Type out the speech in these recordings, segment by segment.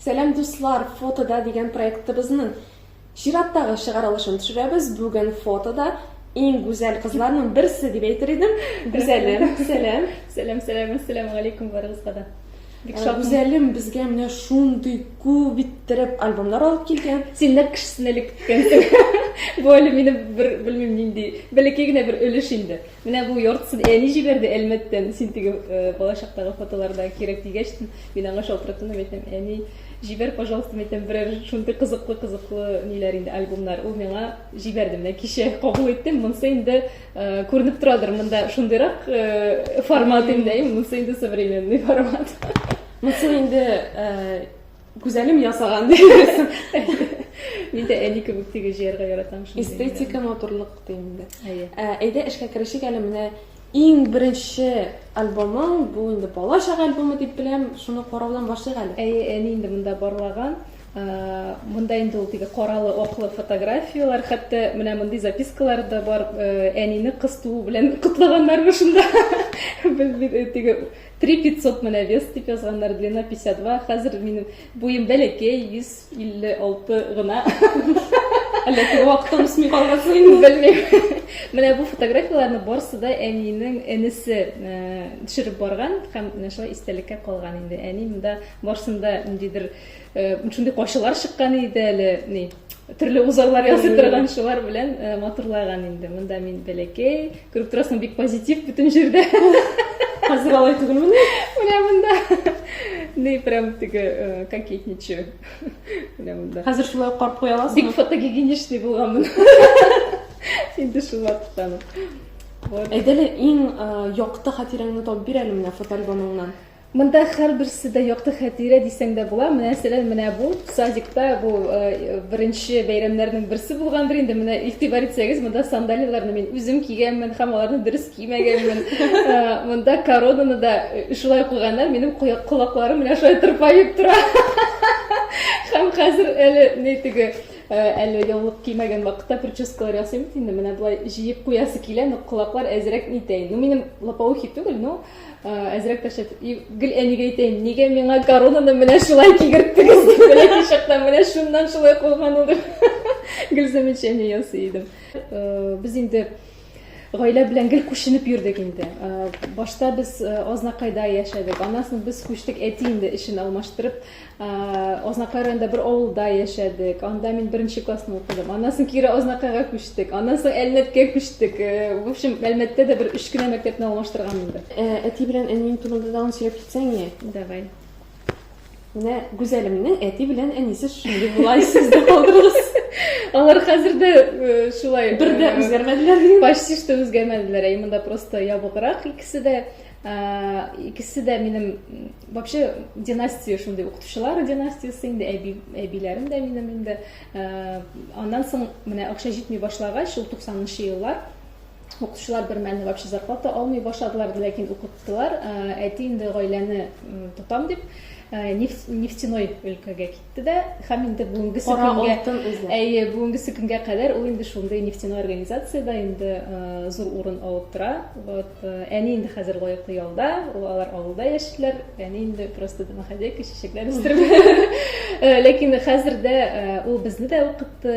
Сәлам дуслар, фотода дигән проектыбызның чираттагы чыгарылышын төшерәбез. Бүген фотода иң гүзәл кызларның берсе дип әйтер идем. Гүзәлем, сәлам. Сәлам, сәлам, ассаламу алейкум барыгызга да. Бик шат. Гүзәлем безгә менә шундый күп иттереп альбомнар алып килгән. Син нәкъ кешесен элек киткәнсең. Бу әле минем бер белмим нинди, бәләкәй генә бер өлеш инде. Менә бу яртысын әни җибәрде Әлмәттән. Син теге балачактагы фотоларда кирәк дигәч, мин аңа шалтыраттым да әйтәм, әни, җибәр, пожалуйста, әйтәм, берәр шундый кызыклы-кызыклы ниләр инде, альбомнар. Ул миңа җибәрде. Менә кичә кабул иттем. Монсы инде күренеп торадыр, монда шундыйрак формат инде, монсы инде современный формат. Монсы инде Гүзәлем ясаган дигәсең. Мин дә әни кебек тиге җыярга яратам шундый. Эстетика, матурлык дим инде. Әйе. Ә, әйдә эшкә керешик әле менә иң беренче альбомың, бу инде бала чага альбомы дип беләм, шуны караудан башлыйк әле. Әйе, әни инде монда барлаган. Монда инде ул теге каралы оклы фотографияләр, хәтта менә мондый запискалар да бар, әнине кыз туу белән котлаганнармы шунда. Без бит теге Три пятьсот менә вес дип язганнар, длина 52, хәзер минем буем бәләкәй, вес 56 гына. Әллә теге вакытта үсми калгансың инде? Белмим. Менә бу фотографияләрне барысы да әнинең энесе э, төшереп барган һәм менә шулай истәлеккә калган инде. Әни монда барысында ниндидер э, шундый кайшылар чыккан иде әле, ни, төрле узарлар ясый торган шулар белән э, матурлаган инде монда мин бәләкәй күреп торасың бик позитив бөтен җирдә хәзер алай түгелмен менә монда не прям теге э, кокетничаю менә монда хәзер шулай ук карап куя аласың бик фотогигиеничный булганмын инде шул вакыттан вот әйдәле иң э, якты хатирәңне табып бир әле менә фотоальбомыңнан Монда һәрберсе дә якты хәтирә дисәң дә була. Менә мәсәлән, менә бу садикта бу э, беренче бәйрәмнәрнең берсе булгандыр инде. Менә игътибар итсәгез, монда сандалияләрне мин үзем кигәнмен һәм аларны дөрес кимәгәнмен. Э, монда коронаны да э, шулай куйганнар, минем колакларым менә шулай тырпаеп тора. Һәм хәзер әле ни теге әле яулык кимәгән вакытта прическалар ясыйм бит инде менә болай җыеп куясы килә но колаклар әзрәк нитәй ну минем лопоухий түгел но Әзрәк тә шәт. Гел әнигә әйтәйем, нигә миңа коронаны менә шулай кигерттегез дип, бәләкәй чактан менә шуннан шулай кылган ул дип. Гел замечание ясый идем. Без инде гаилә белән гел күченеп йөрдек инде. Башта без Азнакайда яшәдек. Аннан соң без күчтек, әти инде эшен алмаштырып, Азнакай районында бер авылда яшәдек. Анда мин беренче классны укыдым. Аннан соң кире Азнакайга күчтек. Аннан соң Әлмәткә күчтек. Э, в общем, Әлмәттә дә бер өч кенә мәктәпне алмаштырган инде. Э, әти белән әниең турында тагын сөйләп китсәң не? Давай. Менә Гүзәлемнең әти белән әнисе шундый була, сездә калдырыгыз. Алар хәзер дә э, шулай. Бер дә үзгәрмәделәр. Почти что үзгәрмәделәр. Ә монда просто ябыграк икесе дә. икесе дә минем вообще династия шундый укытучылар династиясе инде әби әбиләрем дә минем инде аннан соң менә акча җитми башлагач шул туксанынчы еллар укытучылар бер мәлне вообще зарплата алмый башладылар ләкин укыттылар әти инде гаиләне тотам дип нефтяной өлкәгә китте да һәм инде бүгенгесе көнгә әйе бүгенгесе көнгә кадәр ул инде шундый нефтяной организациядә инде э, зур урын алып тора вот э, әни инде хәзер лаеклы ялда алар авылда яшиләр әни инде просто домохозяйка чәчәкләр үстереп э, ләкин хәзер дә ул безне дә укытты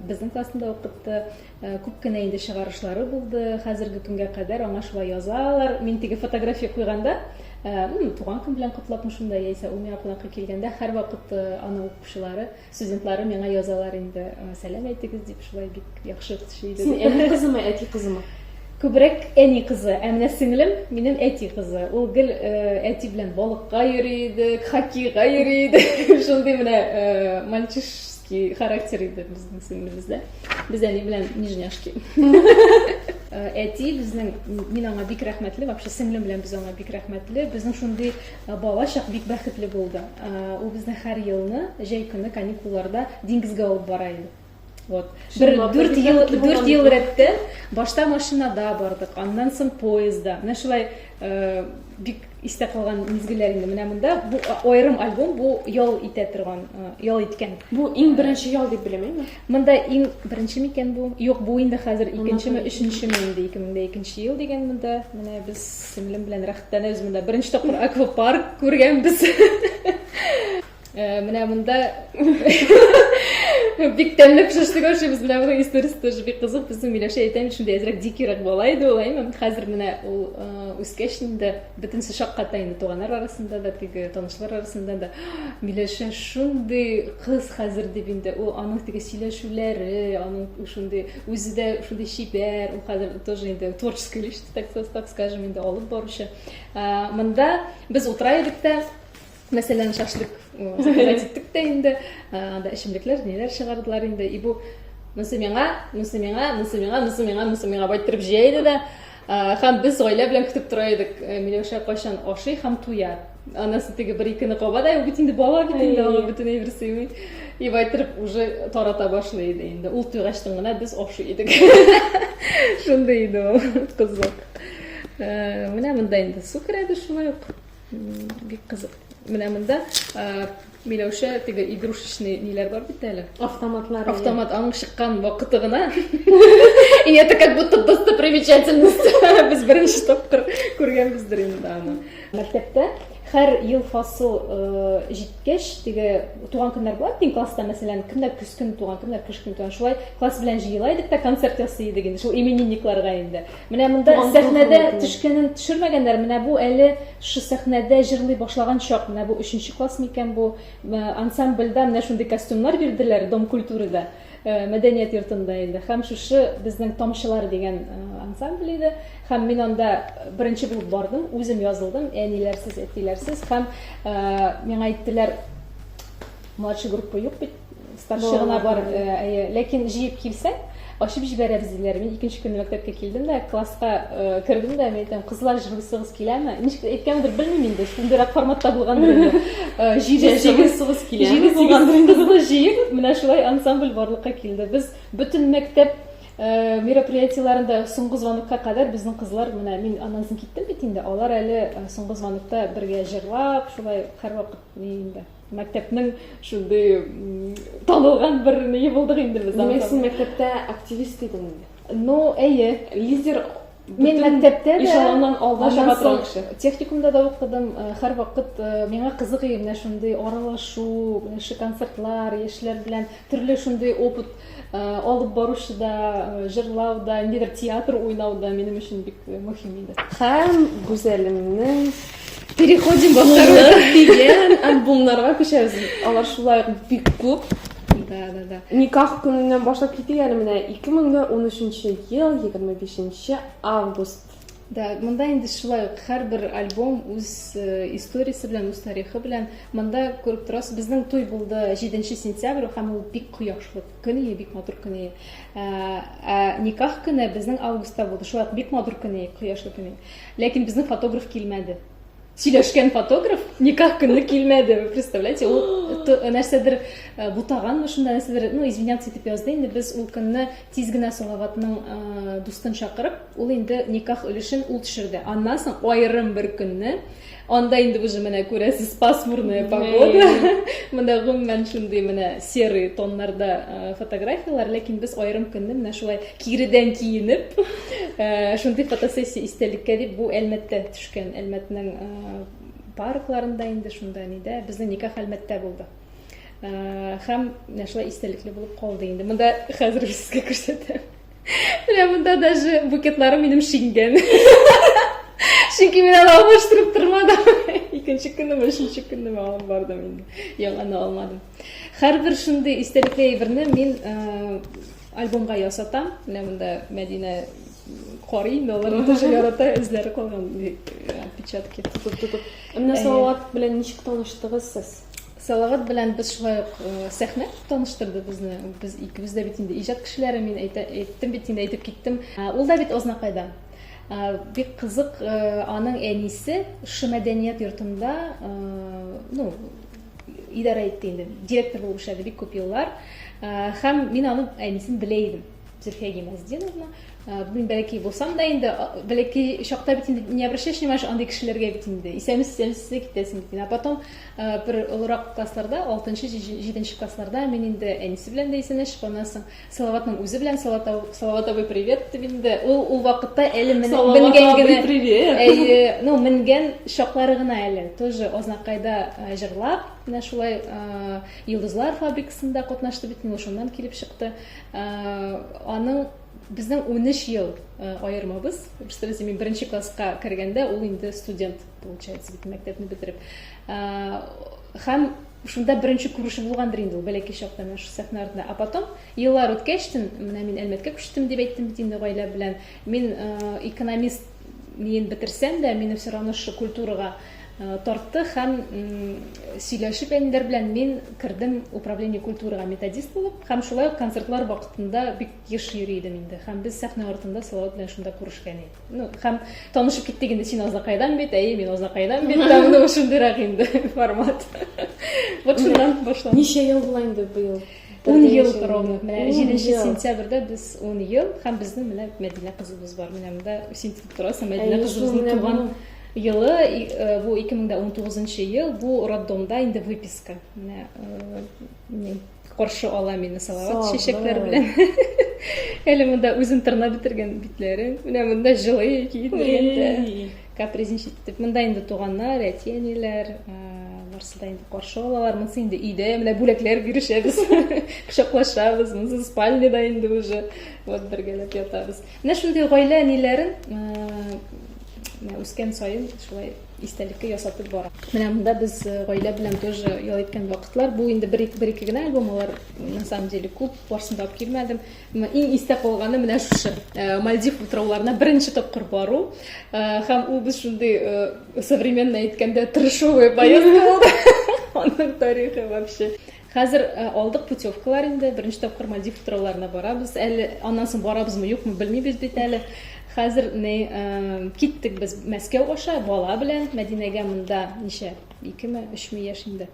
безнең классны да укытты Күп кенә инде чыгарышлары булды, хәзерге көнгә кадәр аңа шулай язалар. Мин теге фотография куйганда, туган көн белән котлапмы шунда, яисә ул миңа кунакка килгәндә, һәрвакыт аны укучылары, студентлары миңа язалар инде, сәлам әйтегез дип, шулай бик яхшы кеше иде. Син әни кызымы, әти кызымы? Күбрәк әни кызы, ә менә сеңлем минем әти кызы. Ул гел әти белән балыкка йөри иде, хоккейга йөри иде. Шундый менә мальчиш Характер иде безнең сеңлебездә. Без әни белән нижняшки. Э, әти безнең мин аңа бик рәхмәтле вообще сеңлем белән без аңа бик рәхмәтле безнең шундый э, бала чак бик бәхетле булды э, ул безне һәр елны җәй көне каникулларда диңгезгә алып бара иде вот бер дүрт ел дүрт ел рәттән башта машинада бардык аннан соң поездда менә шулай бик истә калган мизгелләр инде менә монда бу аерым альбом бу ял итә торган ял иткән бу иң беренче ял дип беләм инде монда иң беренче микән бу юк бу инде хәзер икенчеме өченчеме инде ике мең дә икенче ел дигән монда менә без сеңлем белән рәхәтләнәбез монда беренче тапкыр аквапарк күргәнбез Э, менә монда бик тәмле пешеште күршебез менә моның историясе тоже бик кызык безнең миләүшә әйтәм шундый әзрәк дикирәк бала иде ул әйме хәзер менә ул э, үскәч инде бөтенесе шакката инде туганнар арасында да теге танышлар арасында да миләүшә шундый кыз хәзер дип инде ул аның теге сөйләшүләре аның шундый үзе дә шундый чибәр ул хәзер тоже инде творческий личность так скажем инде алып баручы э, монда без утыра идек тә Мәсәлән, шашлык заказать иттек тә инде, анда эчемлекләр, ниләр чыгардылар инде. И бу монысы миңа, монысы миңа, монысы миңа, монысы миңа, монысы миңа байтырып җыя иде дә. Һәм без гаилә белән көтеп тора идек, э, Миләүшә кайчан ашый һәм туя. Анасы теге бер икене каба да, бит инде бала бит инде, аңа бөтен әйбер сыймый. И байтырып уже тарата башлый иде инде. Ул туйгачтын гына без ашый идек. Шундый иде ул кызык. Э, менә монда инде су керәде шулай ук. Бик кызык. Менә монда Миләүшә теге игрушечный ниләр бар бит әле. Автоматлар. Автомат аның чыккан вакыты гына. И это как будто достопримечательность. Без беренче тапкыр күргәнбездер инде аны. Мәктәптә һәр ел фасыл җиткәч, теге туган көннәр була бит класста, мәсәлән, кемнәр көз көне туган, кемнәр кыш көне туган. Шулай класс белән җыела идек тә концерт ясый идек инде. Шул именинникларга инде. Менә монда сәхнәдә төшкәнен төшермәгәннәр. Менә бу әле шушы сәхнәдә җырлый башлаган чак. Менә бу өченче класс микән бу? Ансамбльдә менә шундый костюмнар бирделәр Дом культурада, мәдәният йортында инде. Һәм шушы безнең Тамчылар дигән ансамбль иде. Һәм мин анда беренче булып бардым, үзем язылдым, әниләрсез, әтиләрсез. Һәм миңа әйттеләр, младший группа юк бит. Старший гына бар, әйе. Ләкин җыеп килсәң, ачып җибәрәбез диләр. Мин икенче көнне мәктәпкә килдем дә, класска кердем дә, мин әйтәм, кызлар җыгысыгыз киләме? Ничек әйткәнемдер белмим инде, шундыйрак форматта булгандыр инде. Җыеп җыгысыгыз киләме? Җыеп булгандыр инде. Кызны җыеп, менә шулай ансамбль барлыкка килде. Без бөтен мәктәп мероприятиеләрендә соңгы звонокка кадәр безнең кызлар, менә мин аннан соң киттем бит инде, алар әле соңгы звонокта бергә җырлап, шулай һәрвакыт ни инде. Мәктәпнең шундый танылган бер ние булдык инде без. Димәк, син мәктәптә активист идең инде. Ну, әйе, лидер Мин мәктәптә дә ишелоннан алда чыга торган кеше. Техникумда да укыдым. Э, һәр вакыт э, миңа кызык иде менә шундый аралашу, менә шундый концертлар, яшьләр белән төрле шундый опыт алып баручы да, җырлау да, ниндидер театр уйнау да минем өчен бик мөһим иде. Һәм Гүзәлемнең Переходим во второй дигән альбомнарга күчәбез. Алар шулай ук бик күп. Да, да, да. Никах көненнән башлап китик әле менә 2013 ел 25 август Да, монда инде шулай ук һәрбер альбом үз э, историясе белән, үз тарихы белән. Монда күреп торасыз, безнең туй булды 7 сентябрь, һәм ул бик кояшлы көн иде, бик матур көн иде. Ә, ә никах көне безнең августта булды, шулай ук бик матур көн иде, кояшлы көн иде. Ләкин безнең фотограф килмәде. сөйләшкән фотограф никах көне килмәде вы представляете ул э, нәрсәдер э, бутаганмы шунда нәрсәдер ну извиняться итеп язды инде без ул көнне тиз генә салаватның э, дустын чакырып ул инде никах өлешен ул төшерде аннан соң аерым бер көнне анда инде уже менә күрәсез пасмурная погода менә гомумән шундый менә серый тоннарда фотографиялар ләкин без аерым көнне менә шулай киредән киенеп шундый фотосессия истәлеккә дип бу әлмәттә Көн Әлмәтнең паркларында инде шунда нидә безнең никах Әлмәттә булды. Хәм менә шулай истәлекле булып калды инде. Монда хәзер сезгә күрсәтәм. Менә монда даже букетларым минем шиңгән. Чөнки мин аны алмаштырып тормадым. Икенче көнне, өченче көнне алып бардым инде. Яңаны алмадым. Хәрбер шундый истәлекле әйберне мин Альбомга ясатам. Менә монда Мәдинә карый, но алар тоже ярата, эзләре калган печатки. Тотып, тотып. Менә Салават белән ничек таныштыгыз сез? Салават белән без шулай ук сәхнә таныштырды безне. Без икебез дә бит инде иҗат кешеләре, мин әйттем бит инде, әйтеп киттем. Ул да бит Азнакайда. Бик кызык, аның әнисе шушы мәдәният йортында, ну, идарә итте инде, директор булып эшләде бик күп еллар. Һәм мин аны әнисен белә идем, Зөлфия Гимаздиновна. Мин бәләкәй булсам да инде, бәләкәй чакта бит инде не обращаешь внимания андый кешеләргә бит инде. Исәмис, исәмис китәсең бит. А потом бер олырак классларда, 6-нчы, 7-нче классларда мин инде әнисе белән дә исәнәшеп, аннан соң Салаватның үзе белән Салаватовый привет дип инде. Ул ул вакытта әле менгән генә. привет. Әйе, ну менгән чаклары гына әле. Тоже Азнакайда э, җырлап, менә шулай э, Йолдызлар фабрикасында катнашты бит, ну шуннан килеп чыкты. Э, аның безнең 13 ел э, аермабыз. Просто без мин беренче класска кергәндә ул инде студент, получается, бит мәктәпне бетереп. Э, Һәм шунда беренче күреше булгандыр инде ул бәләкәй чакта менә шул сәхнә артында. А потом еллар үткәч, менә мин Әлмәткә күчтем дип әйттем бит инде гаилә белән. Мин экономист миен бетерсәм дә, мине все равно шушы культурага тартты һәм сөйләшеп әниләр белән мин кердем управление культурага методист булып һәм шулай ук концертлар вакытында бик еш йөри идем инде. Һәм без сәхнә артында Салават белән шунда күрешкән идек. ну һәм танышып киттек инде син азнакайдан бит әйе мин азнакайдан бит там ну шундыйрак инде формат вот шуннан башланды ничә ел була инде быел ун ел ровно менә җиденче сентябрьдә без ун ел һәм безнең менә мәдинә кызыбыз бар менә монда син тотып торасың мәдинә кызыбызның туган елы э, бу ике мең дә он тугызынчы ел бу роддомда инде выписка менә э, Каршы ала мине салават чәчәкләр белән. Әле монда үзен тырнап бетергән битләре. Менә монда җылы киендергәндә. Капризничать итеп. Монда инде туганнар, әти, әниләр, барысы да инде каршы алалар. Монысы инде өйдә, менә бүләкләр бирешәбез. Кочаклашабыз. Монысы спальняда инде уже. Вот бергәләп ятабыз. Менә шундый гаилә әниләрен үскән саен шулай истәлеккә ясатып бара. Менә монда без э, гаилә белән тоже ял иткән вакытлар. Бу инде бер бер ике генә альбом, алар на самом деле күп, барсын да алып килмәдем. Иң истә калганы менә шушы. Э, Мальдив утрауларына беренче тапкыр бару э, һәм ул без шундый современно әйткәндә трешовый поездка булды. Аның тарихы вообще. Хәзер алдык путевкалар инде, беренче тапкыр Мальдив утрауларына барабыз. Әле аннан соң барабызмы, юкмы, белмибез бит әле. Хәзер ни, киттек без Мәскәү аша бала белән, Мәдинәгә монда ничә, икеме, өчме яшь инде.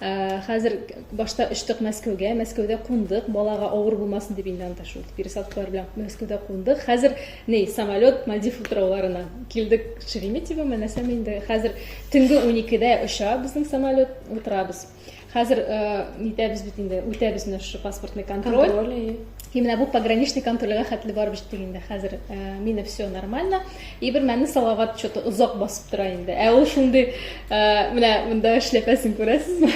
Хәзер башта очтык Мәскәүгә, Мәскәүдә кундык, балага авыр булмасын дип инде анда шул пересадкалар белән Мәскәүдә кундык. Хәзер ни, самолет Мальдив утрауларына. Килдек Шереметьево, менәсәм инде. Хәзер төнге уникедә оча безнең самолет, утырабыз. Хәзер нитәбез бит инде, үтәбез менә шушы паспортный контроль. Контроль, И менә бу пограничный контрольгә хәтле барып җиттек инде. Хәзер мине все нормально. И бер мәнне салават что-то озак басып тора инде. Ә ул шундый менә монда эшләпәсен күрәсезме?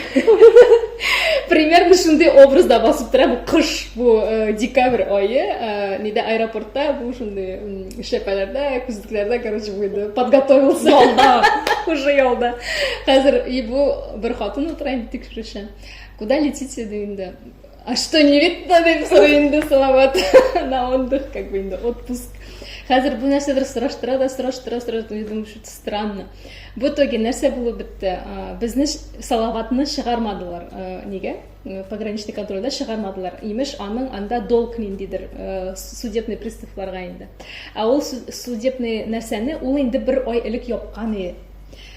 Примерно шундый образда басып тора бу кыш, бу декабрь ае, нидә аэропортта бу шундый эшләпәләрдә, күзлекләрдә, короче, буйды. Подготовился. Ялда. Уже ялда. Хәзер и бу Бер хатын утыра инде тикшерүче. Куда летите ди инде. А что не видно дип сорый инде салават. На отдых как бы инде отпуск. Хәзер бу нәрсәдер сораштыра да сораштыра сораштыра. Я думаю, что это странно. Бу итоге нәрсә булып бетте? Безне салаватны чыгармадылар. Нигә? Пограничный контрольдә чыгармадылар. Имеш, аның анда долг ниндидер судебный приставларга инде. Ә ул судебный нәрсәне ул инде бер ай элек япкан иде.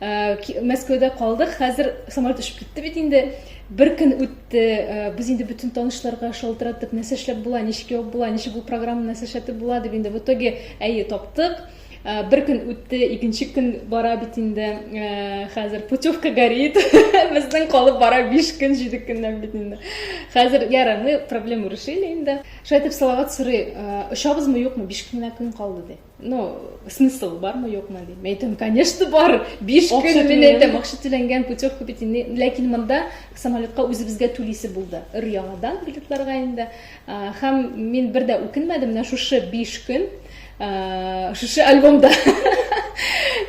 Мәскәүдә калдык, хәзер самолет очып китте бит инде. Бер көн үтте, без инде бөтен танышларга шалтыраттык, нәрсә эшләп була, ничек ябып була, ничек бу программа нәрсә эшләтеп була дип инде в итоге әйе таптык. Бер көн үтте, икенче көн бара бит инде. Хәзер путевка горит. Безнең калып бара 5 көн, 7 көннән бит инде. Хәзер яра, мы проблему решили инде. Шайтып салават сорый, очабызмы, юкмы, 5 кенә көн калды ди. ну смысл бармы юкмы дим мен айтамын конечно бар биш күн мен айтамын акча төленгән путевка бит инде ләкин монда самолетка үзебезгә түлисе булды өр яңадан билетларга инде һәм мин бер дә үкенмәдем менә шушы биш көн шушы альбомда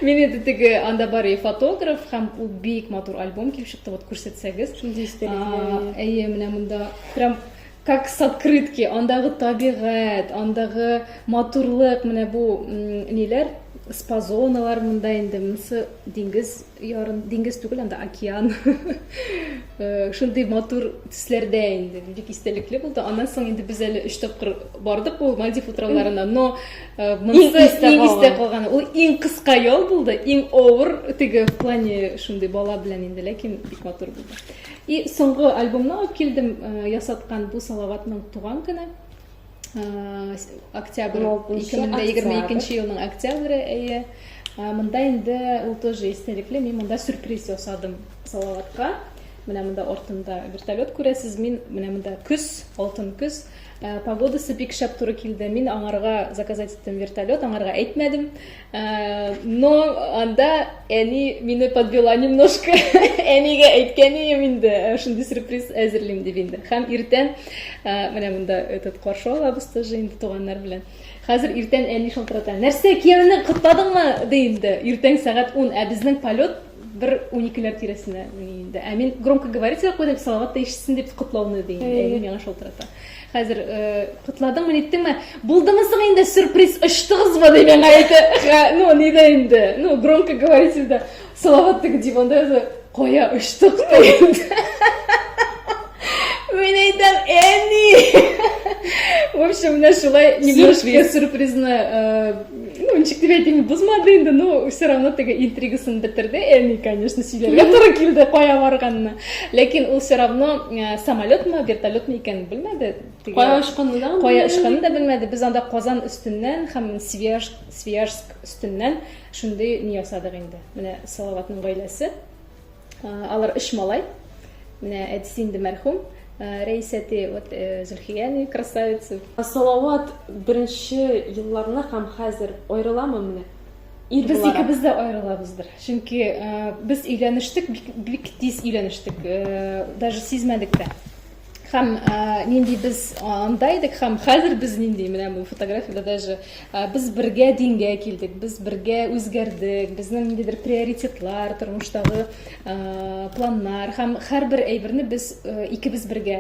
Мин инде теге анда бар и фотограф һәм ул бик матур альбом килеп чыкты. Вот күрсәтсәгез. Шундый истәлекле. Әйе, менә монда прям Как с открытки, андагы табигать, андагы матурлык, менә бу ниләр, спазоналар монда инде, монысы диңгез ярын, диңгез түгел, анда океан. Э, шундый матур төсләрдә инде, бик истәлекле булды. Аннан соң инде без әле өч тапкыр бардык бу Мальдив утрауларына, но э, монысы иң истә калган. Ул иң кыска ял булды, иң авыр теге в плане шундый бала белән инде, ләкин бик матур булды. И соңгы альбомны алып килдем, ясаткан бу Салаватның туган көне. Октябрь 2022 елның октябре, әйе. Монда инде ул тоже истәлекле, мин монда сюрприз ясадым Салаватка. Менә монда артында вертолет күрәсез, мин менә монда көз, алтын көз. Погодасы бик шәп туры килде. Мин аңарга заказать иттем вертолет, аңарга әйтмәдем. Э, но анда әни мине подвела немножко әнигә әйткән идем инде э, шундый сюрприз әзерлим дип инде һәм иртән э, менә монда этот каршы алабыз тоже инде туганнар белән хәзер иртән әни шалтырата нәрсә кияүне котладыңмы ди инде иртән сәгать ун ә безнең полет бер уникеләр тирәсенә мени инде ә мин громкоговоритель куйдым салават та ишетсен дип котлауны ди әни миңа шалтырата хәзер э, котладыңмы ниттеңме булдымы соң инде сюрприз очтыгызмы ди миңа әйтә ну нидә инде ну громкоговорительдә салават теге диванда яза кая очтык ди Мин әйтәм, әни! В общем, менә шулай немножко сюрпризны, э, ну, ничек дип әйтим, бозмады инде, но все равно теге интригасын бетерде. Әни, конечно, сөйләргә туры килде, кая барганны. Ләкин ул все равно э, самолетмы, вертолетмы икәнен белмәде. Кая очканны да? Кая очканны да белмәде. Без анда Казан өстеннән һәм Свияжск өстеннән шундый ни ясадык инде. Менә Салаватның гаиләсе Алар өч малай. Менә әтисе инде мәрхүм. Рәис әти, вот Зөлхия әни, красавица. Салават беренче елларны һәм хәзер аерыламы менә? Ир буларак. Без икебез дә аерылабыздыр. Чөнки без өйләнештек, бик тиз өйләнештек. Даже сизмәдек тә. Хәм нинди без анда идек, хәм хәзер без нинди, менә бу фотографияда даже без бергә дингә килдек, без бергә үзгәрдек, безнең ниндидер приоритетлар, тормыштагы планнар, хәм һәрбер әйберне без икебез бергә,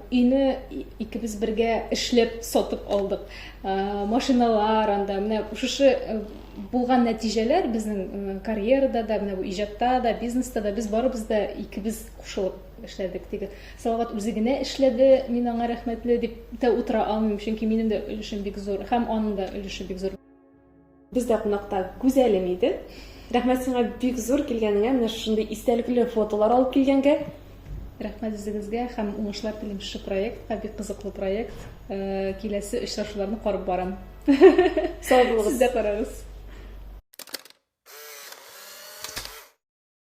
өйне икебез бергә эшләп сатып алдык. Машиналар анда, менә шушы булган нәтиҗәләр безнең карьерада да, менә бу иҗатта да, бизнеста да без барыбыз да икебез кушылып эшләдек теге салават үзе генә эшләде мин аңа рәхмәтле дип тә утыра алмыйм чөнки минем дә өлешем бик зур һәм аның да өлеше бик зур бездә кунакта гүзәлем иде рәхмәт сиңа бик зур килгәнеңә менә шушындый истәлекле фотолар алып килгәнгә рәхмәт үзегезгә һәм уңышлар телим шушы проектка бик кызыклы проект э, киләсе очрашуларны карап барам сау булыгыз сез дә карагыз